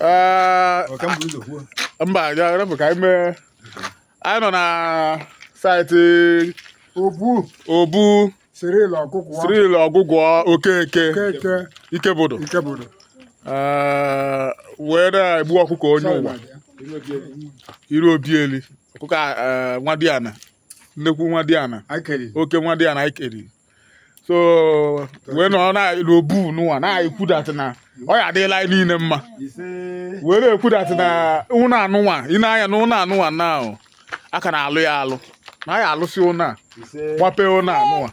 Ee, Ọ ka m bu ụzọ kwuo. mba ya rapụ ka anyị mee anyị nọ na saịtị Obu obu Cyril ọkụkụ ọ Cyril Ọgwụgwọ Okeke keke Ikebudu nke bụrụ Ee, wee na-egbu ọkụkọ onye ụwa Iruobieli ọkụkọ a, ee, nwadiana nnekwu nwadiana oke nwadiana ikeri so wee nọ n'iru obu nụwa na-ekwudatị na ọ ya adịlị anyị niile mma wee na-ekwudatị na ụlọ anụnwa ị na-anya na ụlọ anụnwa na a ka na-alụ ya alụ na ya alụsị ụnọ gbape ụnọ anụwa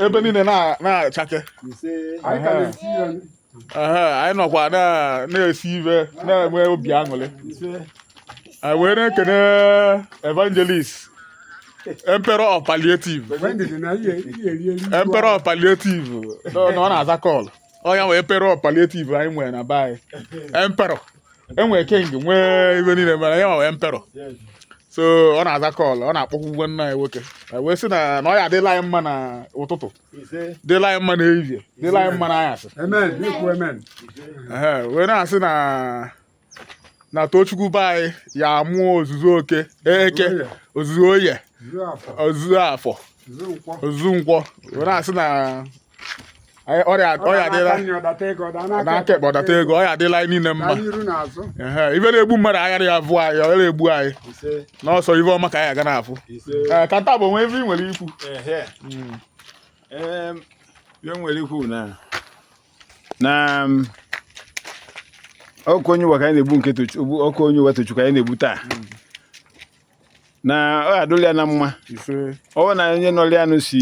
ebe niile na-achake anyị nọkwa na-esi ive na-enwe obi aṅụrị anyị wee na-ekene evangelist emperor of palliative emperor of palliative na ọ na-aza call onye wee emperor of palliative anyị nwere na be anyị emperor enwere king nwee ive niile mere ya nwee emperor so ọ na-aza call ọ na-akpọku nwanne anyị nwoke wee sị na ọ ya adịlị anyị mma n'ụtụtụ dịlị anyị mma n'ehihie dịlị anyị mma n'anyasị wee na-asị na na Tochukwu be anyị ya amụọ ozuzu eke ozuzu oye ozuzu afọ ozuzu nkwọ wee na-asị na ọ ya adịlị n'aka ekpe ọdata ego ọ ya adịlị anyị niile mma ive na-egbu mmadụ aghara ya vụọ anyị ọ na-egbu anyị na ọ sọ ive ọma ka anyị ga na-afụ eh, ka nta bụ o nwe ive ị nwere ikwu hmm. ihe m nwere ikwu na na mm, ọkụkọ onye ụwa ka anyị na-egbu nke ọkụkọ onye ụwa Tochukwu anyị na-egbu taa hmm. na ọ adụla ya na mma ọ na onye nọrọ ya nụ si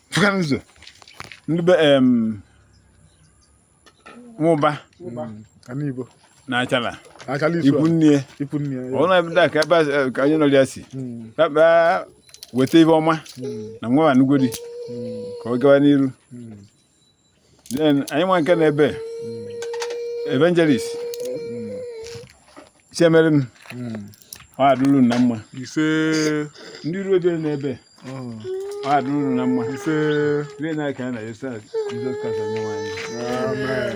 fụta n'ụzọ ndị be em Nwụba Ana Igbo. na Achala Achala isu ikwu a. nne Ikwu nne ya. ọ n'ebe a ka ebe a- eh, ka anyị nọrọ ya si Mm, kpakpa weta ive ọma mm, na nwa anugodi mm, ka ọ gawa n'iru mm. then anyị nwa nke n'ebe evangelist Chiemerem ọ adụrụ na mma ise ndị ruo ebe n'ebe ọ adụrụ na mma ise rie na ka a na-esa Jizọs Kraịst onye nwe anyị amen